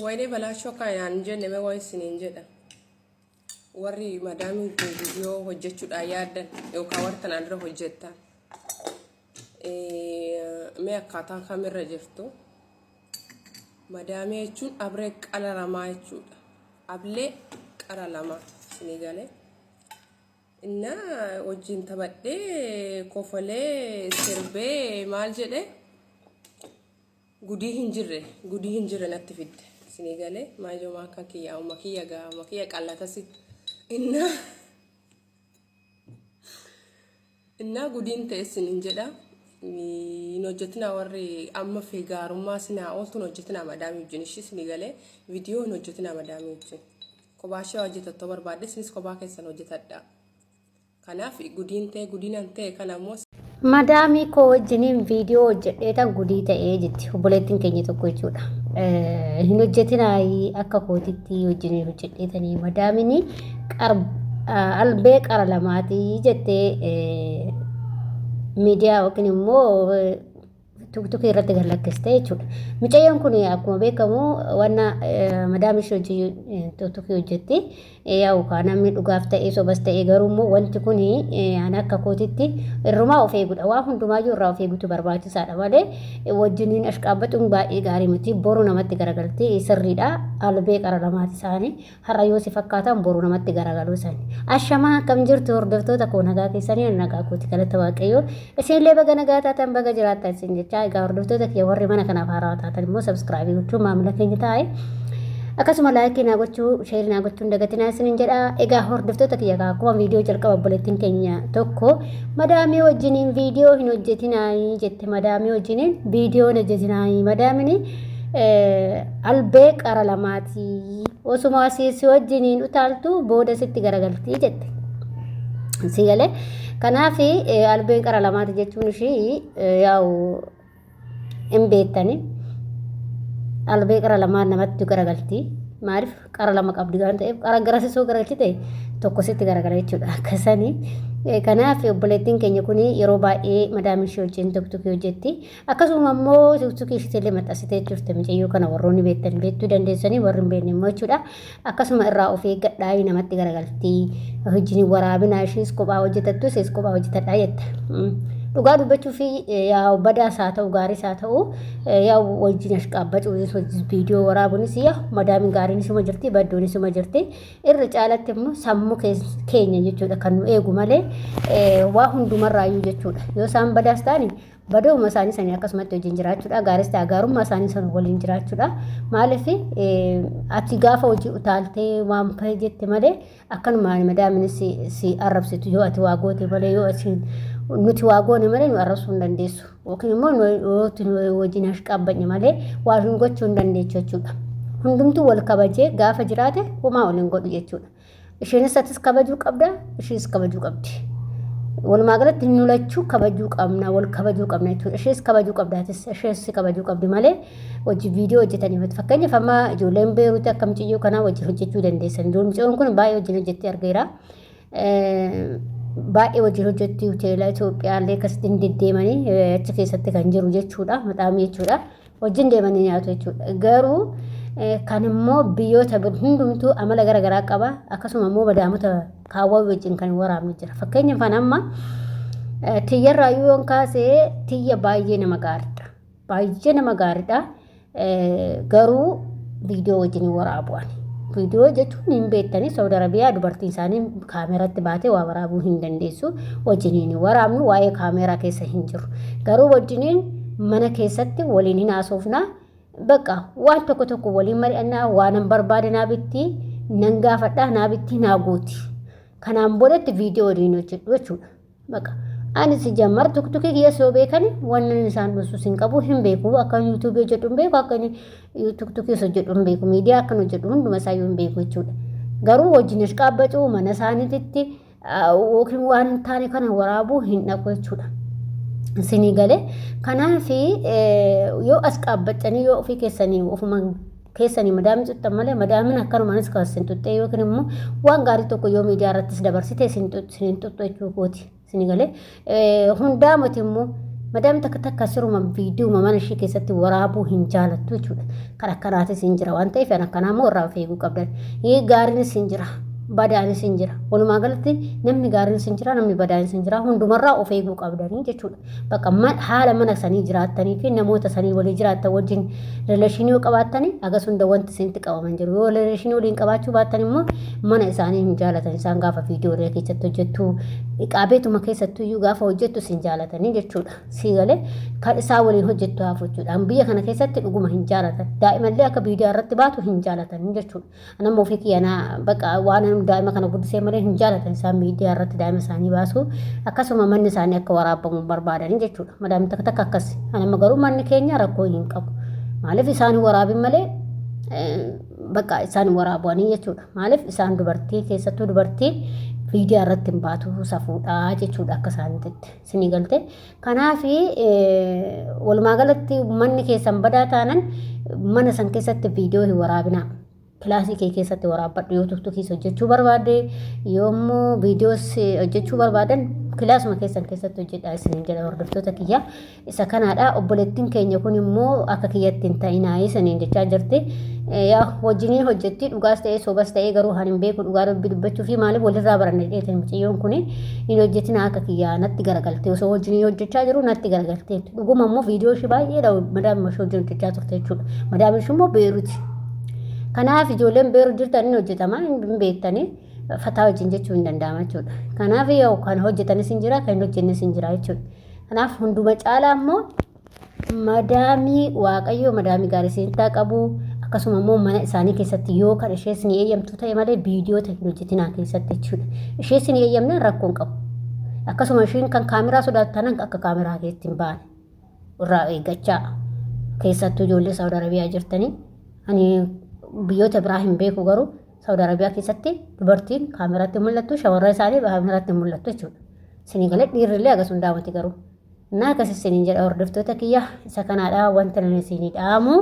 Wayne balaachoo akka inaan hin jenne mee waan isiniin jedha. Warri madaamii viidiyoo hojjechuudhaan yaaddan yookaan warri kanaan dura hojjettan mee akkaataa kamirra jirtu. Madaamii jechuun abree qara lamaa jechuudha. Ablee qara lamaa isinii galee. Inna wajjin taphadhee kofolee sirbee maal jedhee Gudii hin jirre gudii hin jirre natti fidde isinii galee maayyoo maakaa kiyyaa uma kiyya gaa uma kiyya qallatasi innaa innaa gudiin ta'e isin hin jedha hin hojjetinaa warri amma fi gaarummaa sinaa ooltuun hojjetinaa madaamii wajjin ishii isinii galee viidiyoo hin hojjetinaa madaamii wajjin kophaa ishee hojjetattoo barbaadde isinis kophaa keessan hojjetadhaa. Kanaaf gudiin ta'e gudinan ta'e kana immoo Madaamii koo wajjiniin viidiyoo hojjedheetan gudii ta'ee jetti obboleettiin keenya tokko jechuudha. Eh, Hin hojjetinaayii akka kootitti wajjiniin hojjedheetanii madaamini qar- ah, albee qara lamaatii jettee eh, miidiyaa yookiin immoo eh, Tuuktuukii irratti gad lakkiste jechuudha. Mucayyoon kun akkuma beekamu wanna madaam ishee hojii tuuktuukii hojjetti. Yaa'u kaa namni dhugaaf ta'ee sobas ta'ee garuu immoo wanti kun an akka kootitti irrumaa of eegudha. Waan hundumaayyuu irraa of eegutu barbaachisaadha malee wajjiniin ashqaabbaxuun baay'ee gaarii miti. Boru namatti garagalti sirriidha. Albee qara lamaati isaanii. Har'a yoo si fakkaatan boru namatti garagaluu san. Ashamaa akkam jirtu hordoftoota koo nagaa keessanii nagaa kooti galata waaqayyoo. Isinillee baga nagaa taatan baga jiraattan isin jechaa egaa hordoftoota kiyya warri mana kanaaf haaraa taatan immoo sabskraabii gochuun maamila keenya taa'e. Akkasuma laayikii naa gochuu sheerii naa gochuun dagatinaa isinin jedha. Egaa hordoftoota kiyya kaa akkuma viidiyoo jalqaba obboleettiin keenya tokko madaamii wajjiniin viidiyoo hin hojjetinaayii jette madaamii wajjiniin viidiyoo hin hojjetinaayii madaamini albee qara lamaatii osuma si si wajjiniin utaaltu booda sitti garagaltii jette. Si galee kanaaf albeen qara lamaati jechuun ishii yaa'u hin beektani. Albee qara lamaan namatti garagaltii maaliif qara lama qabdi waan ta'eef qara garasisoo garagalchite tokko sitti garagala jechuudha akkasanii. Kanaaf obboleettiin keenya kun yeroo baay'ee madaamiin ishee wajjin tokko tokko hojjetti. Akkasuma immoo suuksuu keessatti illee maxxansitee jirte mucayyoo kana warroonni beektan beektuu dandeessanii warri hin beekne immoo jechuudha. Akkasuma irraa of eeggadhaa namatti garagalti. Hojiin waraabinaa ishees kophaa hojjetattu ishees kophaa hojjetadhaa jetta. Dhugaa dubbachuu fi yaa badaas haa ta'u gaariis haa ta'u yaa wajjin ashqaabbacuunis wajjin viidiyoo waraabuunis yaa madaamiin gaariin isuma jirti baddoon isuma jirti irra caalatti immoo sammuu keenya jechuudha kan nu eegu malee waa hundumarraayyuu jechuudha yoo isaan badaas ta'ani Badooma isaanii sanii akkasumatti wajjin jiraachuudha. Gaaris ta'a gaarummaa isaanii sana waliin jiraachuudha. Maaliif ati gaafa hojii utaaltee waan fa'ee jette malee akkanuma madaamini si, si arrabsitu yoo ati waa goote malee yoo ati nuti waa goone malee nu arrabsuu hin dandeessu. Yookiin immoo nu- yoo ati nu wajjin hashqaabbanye malee waa hin gochuu hin dandeechu jechuudha. Hundumtuu wal kabajee gaafa jiraate homaa wal hin godhu jechuudha. Isheenis atis kabajuu qabda, ishiis kabajuu qabdi. Walumaa galatti nu lachuu kabajuu qabna, wal kabajuu qabna jechuudha. Ishees kabajuu qabda, atis ishees si kabajuu qabdi malee hojii viidiyoo hojjetanii miti. Fakkeenyaaf amma ijoolleen beeruuti akka mucayyoo kanaa wajjin hojjechuu dandeessan. Dur mucayyoon kun baay'ee wajjin hojjettee argeera. Baay'ee wajjin hojjetti hoteela Itoophiyaallee akkasitti hin deddeemanii achi keessatti kan jiru jechuudha. Maxaamii jechuudha. wajjin deemanii nyaatu jechuudha. Garuu kan immoo biyyoota hundumtuu amala gara garaa qaba. Akkasuma immoo badaamota kaawwaa wajjin kan waraabni jira. Fakkeenya kan amma tiyyarraa yoon kaasee tiyya baay'ee nama gaariidha. Baay'ee nama gaariidha. Garuu viidiyoo wajjin waraabu ani. Viidiyoo jechuun hin beektanii Saawud Arabiyaa dubartiin isaanii kaameeratti baatee waa waraabuu hin dandeessu. Wajjiniin waraabnu waa'ee kaameeraa keessa hin jiru. Garuu wajjiniin Mana keessatti waliin hin haasofna. Bakka waan tokko tokko waliin mari'annaa waanan barbaade naa bitti nan gaafadha naa bitti naa guuti. Kanaan boodatti viidiyoo waliin hojjedhu jechuudha. Bakka ani si jammar tuktukii kiyyas yoo beekan wannan isaan dhussus hin qabu hin beeku akka yuutuubii hojjedhu hin beeku akka tuktukiis hojjedhu hin beeku miidiyaa akkan hojjedhu hunduma isaayyuu hin beeku jechuudha. Garuu wajjin ashqaabbatu mana isaaniititti yookiin waan hin taane kana waraabuu hin dhaqu jechuudha. Isinii galee kanaaf yoo as qaabbattanii yoo ofii keessanii ofuma keessanii madaamii tuttan malee madaamin akkanumaanis kan isin tuttee yookiin immoo waan gaarii tokko yoo miidiyaa irrattis dabarsite isin tuttu jechuu kooti. Isinii galee Hundaa mati immoo madam takka takka siruma viidiyuma mana ishee keessatti waraabuu hin jaalattu jechuudha. Kan akkanaatis hin jira waan ta'eef kan akkanaa immoo irraa of eeguu qabdan. Ee gaariinis hin jira. Badaanis hin jira. Walumaa galatti namni gaariinis hin jira namni badaanis hin jira hundumarraa of eeguu qabdanii jechuudha. Bakka haala mana sanii jiraattanii fi namoota sanii walii jiraattan wajjin rileeshinii yoo qabaattanii agas hunda wanti isinitti qabaman jiru. Yoo rileeshinii waliin qabaachuu baattan immoo mana isaanii hin jaalatan isaan gaafa viidiyoo irree keessatti hojjettu qaabeetuma keessattuu iyyuu gaafa hojjettu sin jaalatanii jechuudha sii galee kan isaa waliin hojjettu hafu jechuudha biyya kana keessatti dhuguma hin jaalatan daa'imallee akka viidiyoo irratti baatu hin jaalatanii jechuudha anamma ofii kiyyanaa baqa waan daa'ima kana guddisee malee hin jaalatan isaan miidiyaa irratti daa'ima isaanii baasu akkasuma manni isaanii akka waraabamu barbaadanii jechuudha madaamni takka takka akkas anamma garuu manni keenya rakkoo hin qabu maaliif isaan waraabin malee Bakka isaan waraabuanii jechuudha. Maaliif isaan dubartii keessattuu dubartii miidiyaa irratti hin baatu safuudha jechuudha akka isaaniitti sinii galte. Kanaaf walumaa galatti manni keessan badaa taanan mana san keessatti viidiyoo hin waraabinaa. Kilaasii kee keessatti waraabbadhu yoo turtu keessa hojjechuu barbaade yoommoo viidiyoos hojjechuu barbaadan kilaasuma keessan keessatti hojjedhaa isiniin jedha hordoftoota kiyya. isa kanaadha obboleettiin keenya kun immoo akka kiyyatti hin ta'inaayii saniin jechaa jirti yaa wajjiniin hojjetti dhugaas ta'ee sobas ta'ee garuu haan hin beeku dhugaa rabbi dubbachuu fi maaliif walirraa baranne dheete mucayyoon kun hin hojjetina akka kiyyaa natti garagalte osoo wajjiniin hojjechaa jiru natti garagalte dhuguma immoo viidiyoo ishii baay'eedha madaam ishee wajjin hojjechaa turte jechuudha madaam ishii immoo beeruti kanaaf ijoolleen beeru jirtan hin hojjetama hin beektanii fataa wajjin jechuu hin danda'ama jechuudha kanaaf yoo kan hojjetanis hin jira kan hin hojjennes hin jira jechuudha Kanaaf hunduma caalaa immoo madaamii waaqayyoo madaamii gaarii seentaa qabu akkasuma immoo mana isaanii keessatti yoo kan ishees ni eeyyamtu ta'e malee viidiyoo teekinoojjitinaa keessatti jechuudha. Ishees ni eeyyamne rakkoo hin qabu. Akkasuma ishiin kan kaameraa sodaattu tanan akka kaameraa keessatti hin baane irraa eeggachaa keessattuu ijoollee Saawud Arabiyaa jirtanii ani biyyoota biraa hin beeku garuu Saudi Arabia keessatti dubartiin kaameraatti mul'attu shamarran isaanii kaameraatti mul'attu jechuudha. Isinii galee dhiirrillee agas hundaamati garuu. Naa akkas isiniin jedha hordoftoota kiyya isa kanaadha wanta nan isinii dhaamu.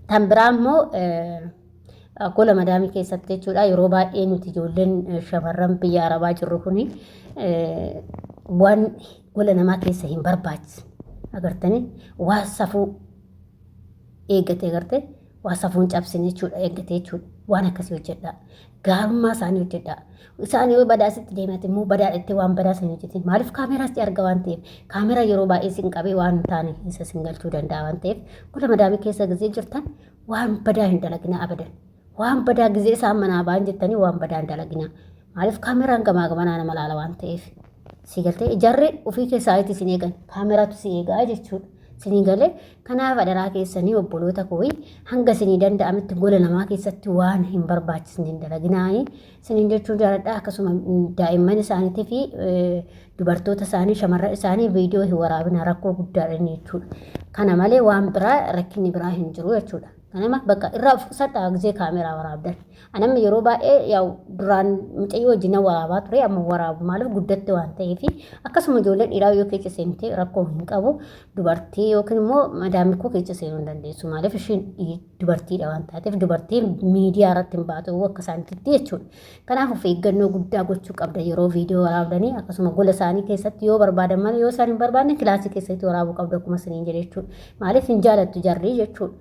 Tan biraa immoo gola madaamii keessatti jechuudha yeroo baay'ee nuti ijoolleen shamarran biyya arabaa jirru kuni waan gola namaa keessa hin barbaachisne agartanii waan safuu eeggatee gartee waa safuun cabsine jechuudha eeggatee jechuudha waan akkasii hojjedhaa gaarummaa isaanii hojjedhaa isaan yoo badaa sitti deemate immoo badaa itti waan badaa sana hojjetin maaliif kaameeraa sitti arga waan ta'eef kaameeraa yeroo baay'ee sin qabee waan hin taane isa sin galchuu danda'a waan ta'eef gola madaamii keessa gizee jirtan waan badaa hin dalaginaa abadan waan badaa gizee isaan manaa ba'an jettanii waan badaa hin dalaginaa maaliif kaameeraan gamaa gamanaa nama laala waan ta'eef si galtee ijarri ofii keessaa itti sin eegan kaameraatu si eegaa jechuudha sin galee Kanaaf adaraa keessanii obboloota kooyi hanga isinii danda'ametti gola namaa keessatti waan hin barbaachisne hin dalaginaayi. Isiniin jechuun jaaladha akkasuma daa'imman isaaniitii fi dubartoota isaanii shamarran isaanii viidiyoo hin waraabina rakkoo guddaadha inni jechuudha. Kana malee waan biraa rakkinni biraa hin jiru jechuudha. Ganama bakka irraa of qusadhaa gizee kaameraa waraabdan. Anamma yeroo baay'ee yaa'u duraan mucayyoo wajjin nan waraabaa ture amma waraabu maaliif guddatte waan ta'eef akkasuma ijoolleen dhiiraa yoo keessa seente rakkoo hin qabu dubartii yookiin immoo madaamii koo keessa seenuu hin dandeessu maaliif ishiin dubartiidha waan taateef dubartiin miidiyaa irratti hin baatu akka isaanitti jechuudha. Kanaaf of eeggannoo guddaa gochuu qabda yeroo viidiyoo waraabdanii akkasuma gola isaanii keessatti yoo barbaadan malee yoo isaan hin barbaadne kilaasii keessatti waraabuu qabda akkuma isiniin jedhe jechuudha. Maaliif hin jaalattu jarri jechuudha.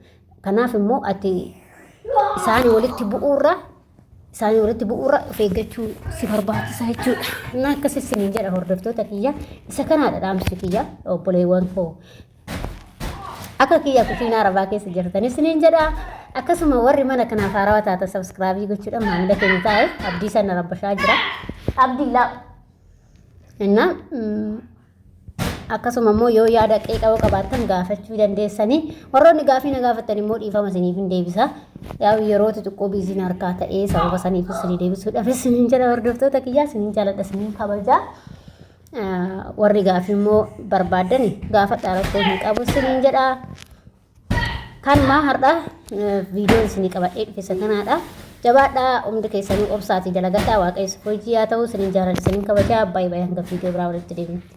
Kanaaf immoo ati isaanii walitti bu'uurra isaanii walitti bu'uurra of eeggachuu si barbaachisa jechuudha. Innaa akkas isiniin jedha hordoftoota kiyya isa kanaadha dhaamsi kiyya obboleewwan koo Akka kiyya kusiinaa arabaa keessa jirtan isiniin jedha. Akkasuma warri mana kanaaf haarawaa taatan sabskraabii gochuudhaan maamila keenya taa'e abdii sana rabbashaa jira. Abdii laa. Innaa akkasuma immoo yoo yaada qeeqaa yoo qabaattan gaafachuu dandeessanii warroonni gaafii na gaafattan immoo dhiifama isiniif hin deebisa. Yaa yeroo xixiqqoo biiziin harkaa ta'ee sababa saniif isinii deebisuudhaaf isiniin jedha hordoftoota kiyyaa isiniin jaaladha isiniin kabajaa. warri gaafii immoo barbaaddani gaafadhaa rakkoo hin qabu isiniin jedha. Kanumaa har'a viidiyoon isinii qabadhee dhufessa kanaadha. Jabaadhaa hundi keessanii obsaatii dalagadhaa waaqayyo hojii haa ta'u isiniin jaaladha isiniin kabajaa baay'ee baay'ee hanga viidiyoo biraa walitti deebinutti.